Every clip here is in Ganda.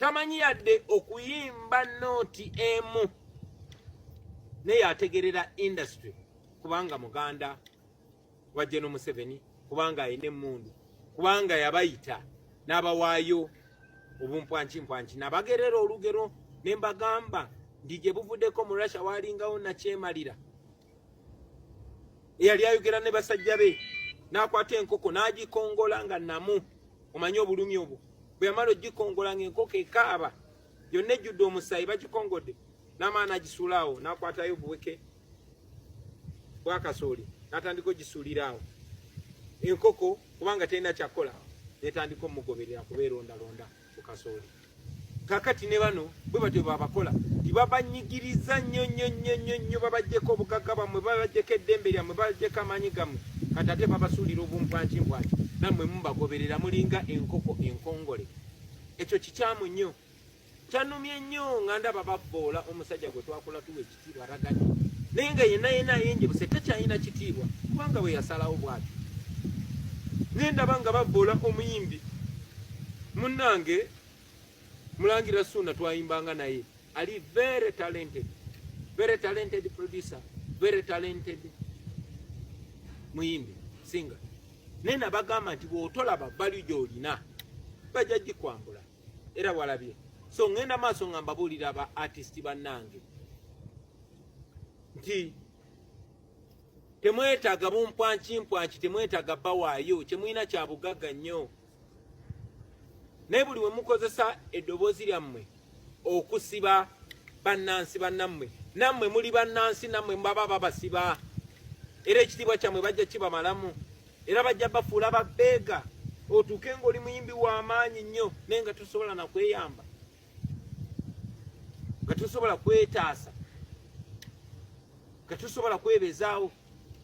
tamanyi yadde okuyimba nooti emu naye ategerera industry kubanga muganda wa geno museveni kubanga alina emundu kubanga yabayita n'abawaayo obumpwankimpwanki nabagerera olugero ne mbagamba ndi gye buvuddeko mu russia waalingawo nakyemalira eyali ayogera ne basajja be n'akwata enkoko n'agikongola nga namu omanyi obulumi obwo bwe yamala ogikongola ng'enkoko ekaaba yonna ejjudde omusaayi bagikongodde n'amaana agisuulaawo n'akwatayo obuweke bwakasooli n'atandika ogisuuliraawo enkoko kubanga terina kyakukola netandika omugoberera kuba erondalonda ku kasooli kakati ne bano bwe batyo babakola tibabanyigiriza nnyo nnyo nnyo nnyo nnyo babajjeko obugagga bamwe babajjeko eddembe lyammwe babajjeko amaanyi gammwe kati ate babasuulira obumpwankimpwanki nammwe mubagoberera mulinga enkoko enkongole ekyo kikyamu nnyo kyanumye nnyo nga ndaba babboola omusajja gwe twakula tuweki naye nga yenna yenna ayenjebuse takyalina kitiibwa kubanga bwe yasalawo bwati naye ndaba nga bavvoola omuyimbi munnange mulangira suuna twayimbanga naye ali very talented very talented producer very talented muyimbi singa naye nabagamba nti bw'otolaba bali gy'olina bajja gikwambula era walabye so ngenda maaso nga mbabuulira ba artist bannange nti temwetaaga bumpwankimpwanki temwetaaga bawaayo kyemulina kya bugagga nnyo naye buli we mukozesa eddoboozi lyammwe okusiba bannansi bannammwe nammwe muli bannansi nammwe mubaba babasiba era ekitiibwa kyammwe bajja kibamalamu era bajja bafuula babbeega otuuke ng'oli muyimbi w'amaanyi nnyo naye nga tosobola nakweyamba nga tosobola kwetaasa nga tosobola kwebezaawo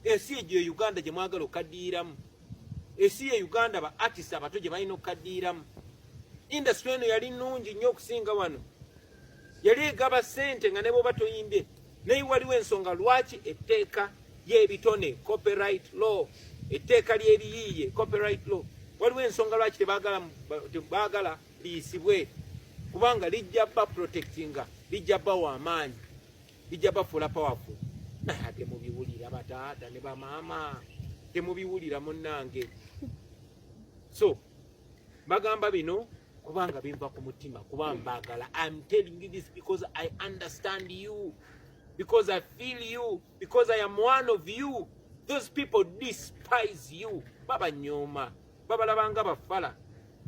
ensi egyo e uganda gye mwagala okukaddiiramu ensi ye uganda ba artist abato gye balina okukaddiiramu indasitule eno yali nnungi nnyo okusinga wano yali egaba sente nga neboba toyimbye naye waliwo ensonga lwaki etteeka y'ebitone copyright law etteeka ly'ebiyiiye copyright law waliwo ensonga lwaki tebagala liyisibwe kubanga lijja ba protectinga lijja bawa amaanyi lijja bafuula powerful naye ate mubiwulira bataata ne bamaama temubiwulira munnange so bagamba bino kubanga biva ku mutima kuba mbagala I'm telling you this because I understand you because I feel you because I am one of you those people despise you babanyooma babalabanga bafala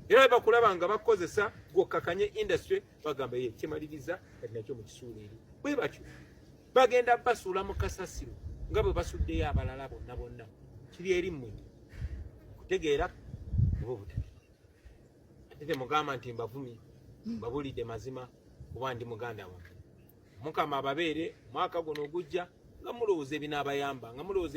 era bakulaba nga bakozesa gwokakanye industry bagamba ye kimaliriza kati nakyo mu kisuula eri bwe batyo bagenda basuula mu kasasiro nga bwe basuddeyo abalala bonna bonna kiri eri mmwe kutegeera oba obutageera ate temugamba nti mbavumi mbabulidde mazima kuba ndi muganda wa mukama ababeere mwaka guno ogujja nga mulowooza ebinaabayamba nga mulowooza